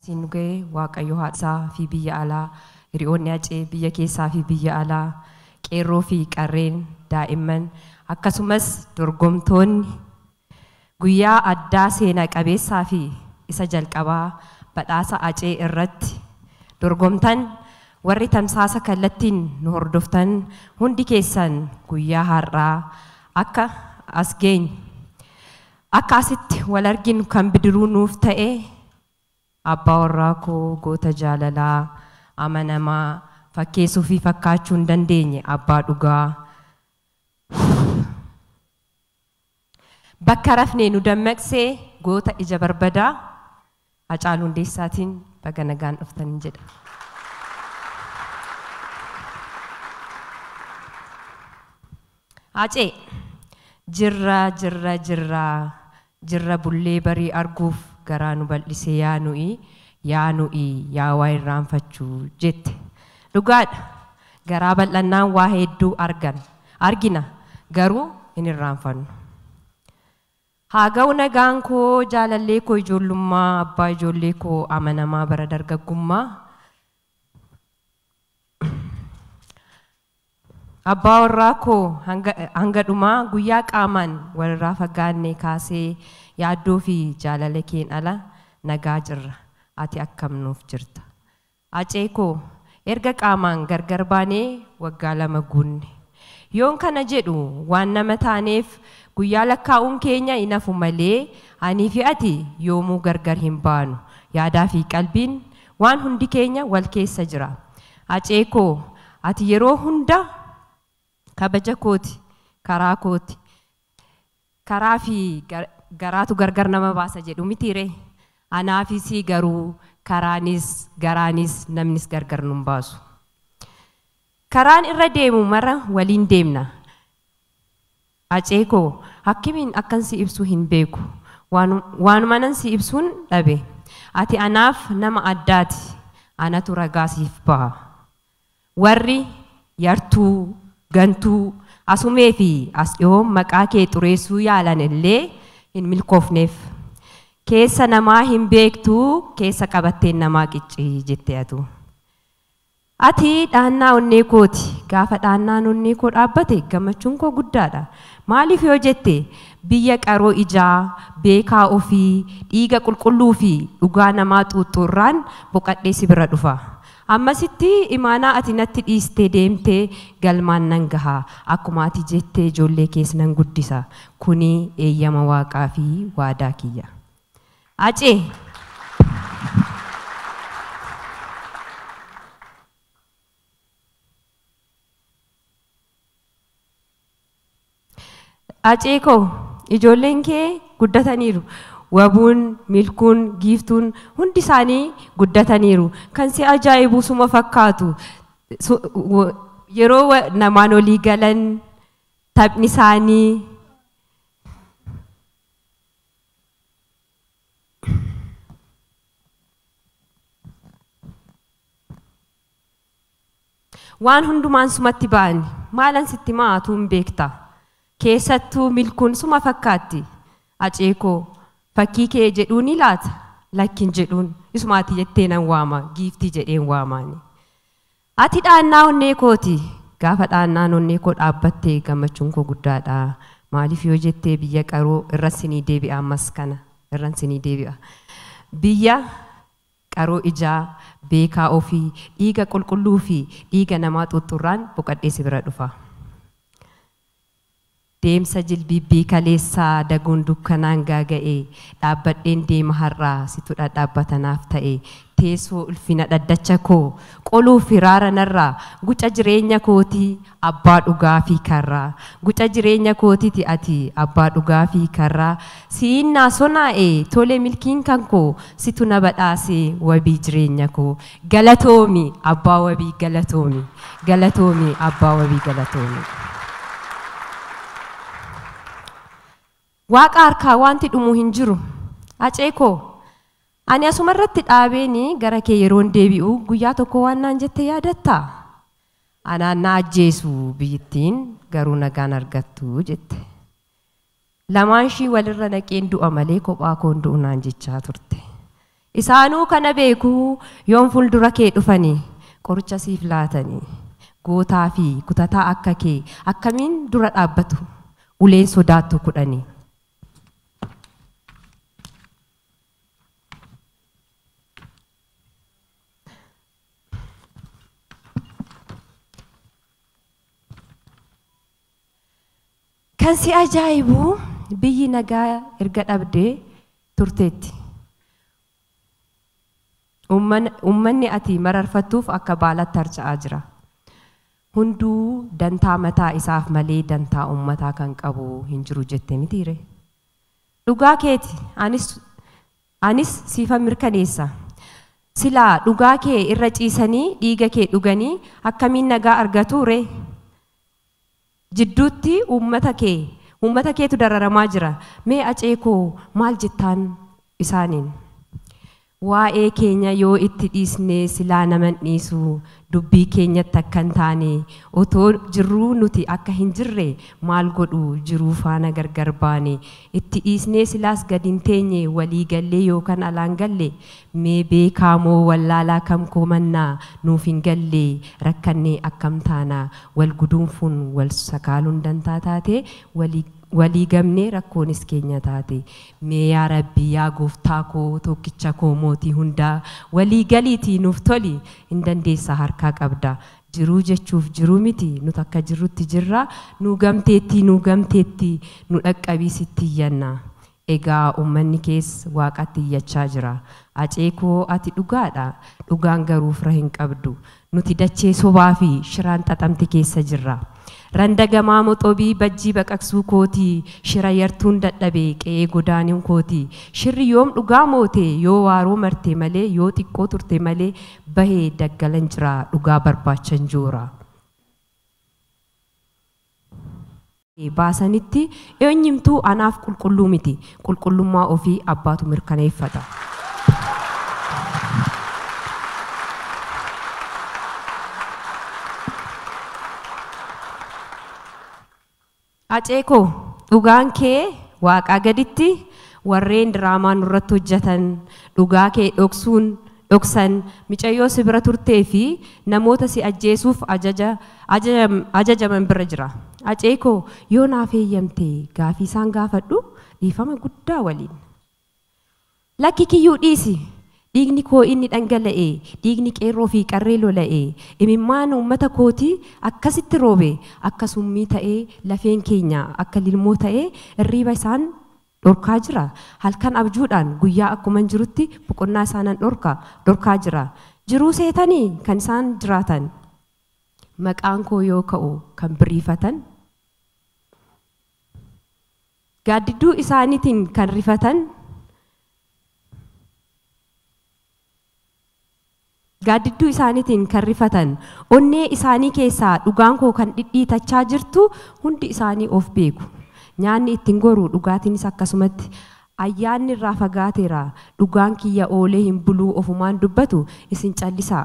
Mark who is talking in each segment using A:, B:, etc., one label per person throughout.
A: siin nu ga'e waaqayyo haadha isaa fi biyya alaa hiriyoonni acee biyya keessaa fi biyya alaa qeerroo fi qarreen daa'imman akkasumas dorgomtoonni Guyyaa addaa seena qabeessaa fi isa jalqabaa badhaasa Acee irratti dorgomtan warri tamsaasa kallattiin nu hordoftan hundi keessan guyyaa har'aa akka as geenyu akka asitti wal arginu kan bidiruu nuuf ta'e abbaa warraa koo goota jaalalaa amanamaa fakkeessuu fi fakkaachuu hin dandeenye abbaa dhugaa Bakka rafne nu dammaqse goota ija barbadaa Hacaaluu Hundeessaatiin baga nagaan dhuftan jedha. Hacee! Jirra jirra jirra jirra bullee barii arguuf garaa nu bal'ise yaa nu'i yaa nu'i yaa waa irraanfachu jette. Dhugaadha! Garaa bal'annaan waa hedduu arganna, argina, garuu hin irraanfannu. Haa ga'u nagaan koo jaalallee koo ijoollummaa, abbaa ijoollee koo amanamaa bara dargaggummaa, abbaa warraa koo hanga, hanga dhumaa guyyaa qaamaan walirraa fagaanne kaasee yaaddoo fi jaalala keen ala nagaa jirra. Ati akkam nuuf jirta? Hacee koo, erga qaamaan gargar baanee waggaa lama guunne. Yoon kana jedhu waan nama taaneef guyyaa lakkaa'uun keenya hin hafu malee anii fi ati yoomuu gargar hin baanu. Yaadaa fi qalbiin, waan hundi keenya wal keessa jira. Hacee koo, ati yeroo hunda. Kabaja kooti karaa kooti. Karaa fi garaatu gargar nama baasa jedhu mitii ree? Anaa fi sii garuu karaanis, garaanis, namnis gargar nun baasu. Karaan irra deemu mara waliin deemna. Acee koo akkmiin akkan si ibsu hin beeku. Waanumanan si ibsuun dhabe. Ati anaaf nama addaati. Anatu ragaa siif baha. Warri yartuu, gantuu, asumee fi as dhihoon maqaa kee xureessuu yaalan illee hin milkoofneef. Keessa namaa hin beektu keessa qabatteen namaa qicci jette atu. Ati dhaannaa onnee kooti. Gaafa dhaannaan onnee koo dhaabbate gammachuun koo guddaadha. Maaliif yoo jette biyya qaroo ijaa, beekaa ofii, dhiiga qulqulluu fi dhugaa namaa xuuxxu irraan boqadhee si bira dhufa. Ammasitti imaanaa ati natti dhiiste deemte galmaan nan gaha. Akkuma ati jette ijoollee kees nan guddisa. Kuni eeyyama Waaqaa fi waadaa kiyya. Acee! Acee koo ijoolleen kee guddataniiru wabuun, milkuun, giiftuun hundi isaanii guddataniiru kan si ajaa'ibu suma fakkaatu yeroo namaan olii galan taphni isaanii Waan hundumaan sumatti ba'ani. Maalan sitti himaa atuu hin beekta. Keessattuu milkuun suma fakkaatti. Aceekoo, fakkii kee jedhuunii laata? Lakki hin jedhuun. Isuma ati jettee nan waama. Giiftii jedheen waamaani. Ati dhaannaa onnee kooti. Gaafa dhaannaan onnee koo dhaabbatte gammachuun koo guddaadha. Maaliif yoo jettee biyya qaroo irran sinii deebi'a ammas kana. Irran sinii deebi'a. Biyya. Qaroo ijaa, beekaa ofii, dhiiga qulqulluu fi dhiiga namaa xuuxxurraan boqadhee si bira dhufa. Deemsa jilbiibbii kaleessaa daguun dukkanaan gaaga'e, dhaabbadheen deema har'aa, situ dhadhaabbata naaf ta'e, teessoo ulfina dhaddacha koo, Qoluuf hiraara narraa Guca jireenya kooti Abbaa dhugaa fi karraa Guca jireenya kootiti ati Abbaa dhugaa fi karraa Si'iin naa sonaa'e Tole milkiin kan koo Situ na badhaase Wabii jireenya koo Galatoomi Abbaa wabii Galatoomi Galatoomi Abbaa wabii Galatoomi. Waaqa harkaa waanti dhumu hin jiru. Hacee koo! Ani asuma irratti dhaabeeni gara kee yeroon deebi'u guyyaa tokko waan naan jette yaadattaa? Anaan na ajjeesu biyyittiin garuu nagaan argattu jette. Lamaanshii walirra naqeen du'a malee kophaa koon du'u naan jechaa turte. Isaanuu kana beeku yoom fuuldura kee dhufani qoricha siif laatani gootaa fi kutataa akka kee akkamiin dura dhaabbatu uleen sodaattu kudhani. Kan si ajaa'ibu biyyi nagaa erga dhabdee turteetti. Uummanni ati mararfattuuf akka baalaatti harca'aa jira. Hunduu dantaa mataa isaaf malee dantaa uummataa kan qabu hin jiru jette mitiiree? Dhugaa keeti anis anis siifan mirkaneessa. Silaa dhugaa kee irra ciisanii dhiiga kee dhuganii akkamiin nagaa argatuuree? jidduutti uummata kee uummata keetu dararamaa jira mee acee koo maal jettaan isaaniin waa'ee keenya yoo itti dhiisnee silaa nama hin dhiisu dubbii keenyatti akka hin taane otoo jirruu nuti akka hin jirre maal godhu jiruu faana gargar baane itti dhiisnee silaas gad hin teenye walii gallee yookan alaan galle Mee beekaa moo wallaalaa kam koomannaa nuuf hin galle rakkannee akkam taana wal guduunfuun wal sakaaluun dantaa taate walii walii gabnee rakkoonis keenya taate mee yaa rabbi yaa gooftaa koo tookkicha koo mootii hundaa walii galiitii nuuf toli hin dandeessa harkaa qabda jiruu jechuuf jiruu miti nut akka jirrutti jirra nuu gamteettii nuu gamteettii nu dhaqqabii sitti iyyanna Egaa ummanni kees waaqatti iyyachaa jira. Acee koo ati dhugaadha. Dhugaan garuu fira hin qabdu. Nuti dachee sobaa fi shiraan xaxamte keessa jirra. Randa gamaa moxobii bajjii baqaqsuu kooti, shira yartuun dadhabe qe'ee godaanuu kooti. Shirri yoom dhugaa moote, yoo waaroo marte malee, yoo xiqqoo turte malee bahe daggalan jira, dhugaa barbaachan joora. baasanitti eenyumtuu anaaf qulqulluu miti. Qulqullummaa ofii abbaatu mirkaneeffata. Hacee koo dhugaan kee waaqaa gaditti warreen diraamaa nurratti hojjetan dhugaa kee dhoksuun dhoksan, micayyoo si bira turtee fi namoota si ajjeesuuf ajaja, ajaja, ajajaman bira jira. Acee koo, yoo naaf heeyyamte gaafii isaan gaafadhu dhiifama guddaa waliin. Lakki Kiyyuu dhiisi! Dhiigni koo inni dhangala'e, dhiigni qeerroo fi qarree lola'e, imimmaan uummata kootii akkasitti roobe akka summii ta'ee lafeen keenya akka lilmoo ta'ee irriiba isaan dhorkaa jira? Halkan abjuudhaan guyyaa akkuman jirutti boqonnaa isaa nan dhorka, dhorkaa jira. Jiruu seetanii kan isaan jiraatan maqaan koo yoo ka'u kan biriifatan, gaaddidduu isaaniitiin kan rifatan, Gaaddidduu isaaniitiin kan rifatan, onnee isaanii keessaa dhugaan koo kan dhidhiitachaa jirtu hundi isaanii of beeku. Nyaanni itti hin goru, dhugaatiinis akkasumatti. Ayyaanni irraa fagaateera, dhugaan kiyya oolee hin buluu ofumaan dubbatu, isin callisaa.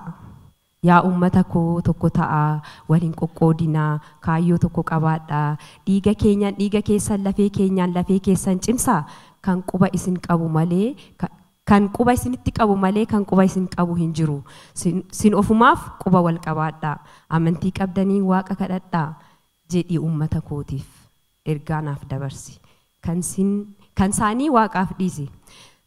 A: Yaa uummata koo tokko ta'aa, wal hin qoqqoodinaa, kaayyoo tokko qabaadhaa. Dhiiga keenyan dhiiga keessan, lafee keenyaan lafee keessan cimsaa, kan quba isin qabu malee kan Kan quba isinitti qabu malee kan quba isin qabu hin jiru. Sin, sin ofumaaf quba wal qabaadhaa. Amantii qabdaniin Waaqa kadhadhaa. Jedhii uummata kootiif ergaa naaf dabarsi. Kan sin, kan saanii Waaqaaf dhiisi.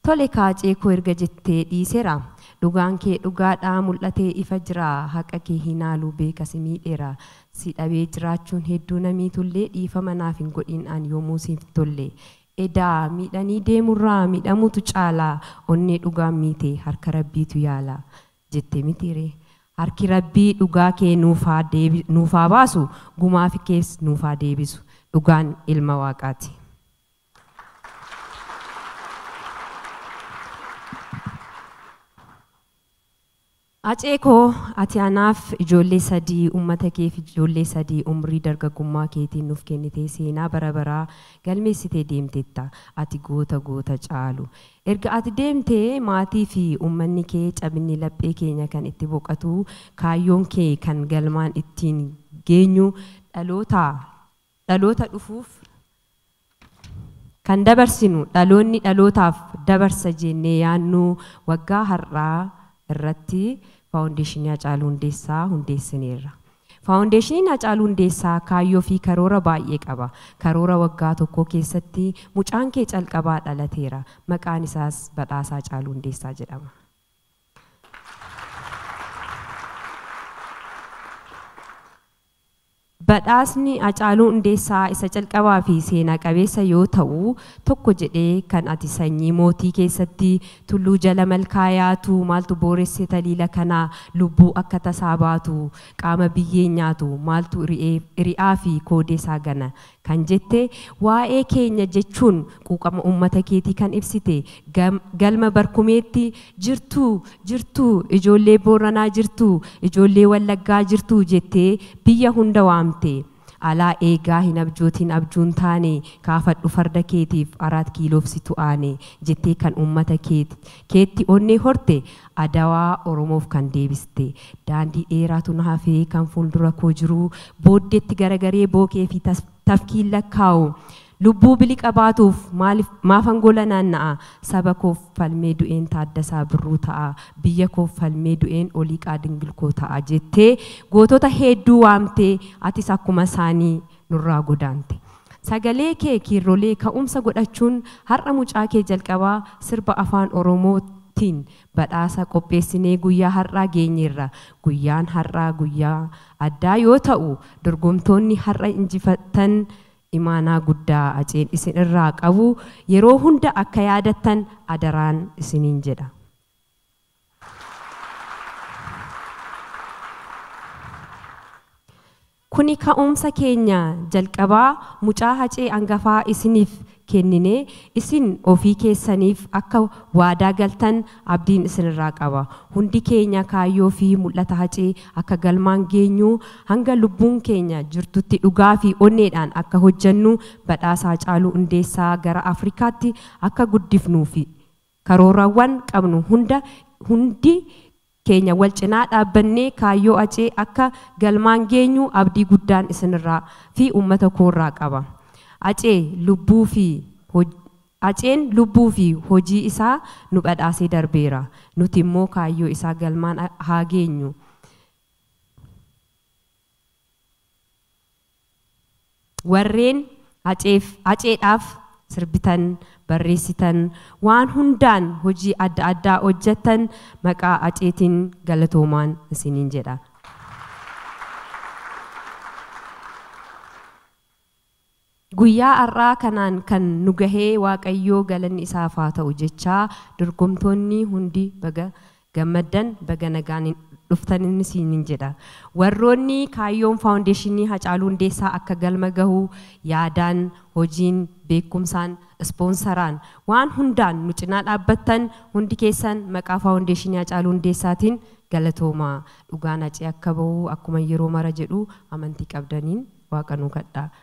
A: Tole Kaacee koo erga jettee dhiisera. Dhugaan kee dhugaadha mul'atee ifa jira. Haqa kee hin haalu beeka si miidheera. Si dhabee jiraachuun hedduu na miitullee dhiifama naaf hin godhiin an yoomuu siif tolle. Edaa miidhanii deemurraa miidhamuutu caala onnee dhugaan miite harka rabbiitu yaala jette mitiiree harki rabbii dhugaa kee nuuf haa deebi nuuf haa baasu gumaafi kees nuuf haa deebisu dhugaan ilma waaqaati. Hacee koo ati anaaf ijoollee sadii ummata keef ijoollee sadii umrii dargaggummaa keetiin nuuf kennitee seenaa bara baraa galmeessitee deemtetta ati goota goota caalu erga ati deemte maatii fi ummanni kee cabinni laphee keenya kan itti boqatu kaayyoon kee kan galmaan ittiin geenyu dhaloota Dhaloota dhufuuf kan dabarsinu dhaloonni dhalootaaf dabarsa jeennee yaannu waggaa har'aa irratti Faawundeeshinii Hacaaluu Hundeessaa hundeessineerra. Faawundeeshiniin Hacaaluu Hundeessaa kaayyoo fi karoora baay'ee qaba. Karoora waggaa tokkoo keessatti mucaan kee calqabaa dhalateera. Maqaan isaas Badhaasa Hacaaluu Hundeessaa jedhama. Badhaasni Hacaaluu Hundeessaa isa calqabaa fi seenaa qabeessa yoo ta'u, tokko jedhee kan ati sanyii mootii keessatti tulluu jala malkaa yaatu maaltu booresse taliila kana lubbuu akka tasaa baatu qaama biyyeen nyaatu maaltu ri'ee, ri'aa fi koodee isaa gana kan jette, waa'ee keenya jechuun quuqama uummata keetii kan ibsite, Galma Barkumeetti, Jirtuu! Jirtuu! Ijoollee Booranaa jirtuu! Ijoollee Wallaggaa jirtuu! jettee biyya hunda waamte. Alaa eegaa hin abjootiin abjuun taane, kaafadhu farda keetiif, Araat Kiiloof situ aane, jettee kan uummata keetti onnee horte, Adawaa Oromoof kan deebiste. Daandii dheeraatu na hafe, kan fuuldura koo jiru. Booddeetti garagaree bookee fi tafkiin lakkaa'u. Lubbuu biliqa baatuuf maaliif, maafan gola naanna'a? Saba koof falmee du'een Taaddasaa Birruu ta'a. Biyya koof falmee du'een Oliiqaa Dingilkoo ta'a jettee gootota heedduu waamtee atis akkuma isaanii nurraa godaante. Sagalee kee kiirrolee ka'umsa godhachuun har'a mucaa kee jalqabaa sirba Afaan Oromoo tiin badhaasa qopheessinee guyyaa har'aa geenyeerra. Guyyaan har'aa guyyaa addaa yoo ta'u, dorgomtoonni har'a injifattan imaanaa guddaa Aceen isin irraa qabu yeroo hunda akka yaadattan adaraan isiniin jedha. Kuni ka'umsa keenya jalqabaa mucaa Hacee angafaa isiniif kennine isin ofii keessaniif akka waadaa galtan abdiin isinirraa qaba. Hundi keenya kaayyoo fi mul'ata Hacee akka galmaan geenyu hanga lubbuun keenya jirtutti dhugaa fi onneedhaan akka hojjennu badhaasa Hacaaluu Hundeessaa gara Afrikaatti akka guddifnuu fi Karoorawwan qabnu hunda hundi keenya wal cinaa dhaabbannee kaayyoo Hacee akka galmaan geenyu abdii guddaan isinirraa fi uummata koorraa qaba. Hacee lubbuu fi Haceen lubbuu fi hojii isaa nu badhaasee darbeera. Nuti immoo kaayyoo isaa galmaan haa geenyu. Warreen Haceef, Haceedhaaf sirbitan, barreessitan, waan hundaan hojii adda addaa hojjattan maqaa Haceetiin galatoomaan isiniin jedha. Guyyaa har'aa kanaan kan nu gahee Waaqayyoo galanni isaaf haa ta'u jechaa dorgomtoonni hundi baga gammaddan baga nagaan dhuftan isiniin jedha. Warroonni kaayyoon Faawundeeshinii Hacaaluu Hundeessaa akka galma gahu yaadaan, hojiin, beekumsaan, ispoonsaraan, waan hundaan nu cinaa dhaabbattan hundi keessan maqaa Faawundeeshinii Hacaaluu Hundeessaatiin galatoomaa. Dhugaan Hacee akka bahu akkuma yeroo mara jedhu amantii qabdaniin Waaqa nuu kadhaa.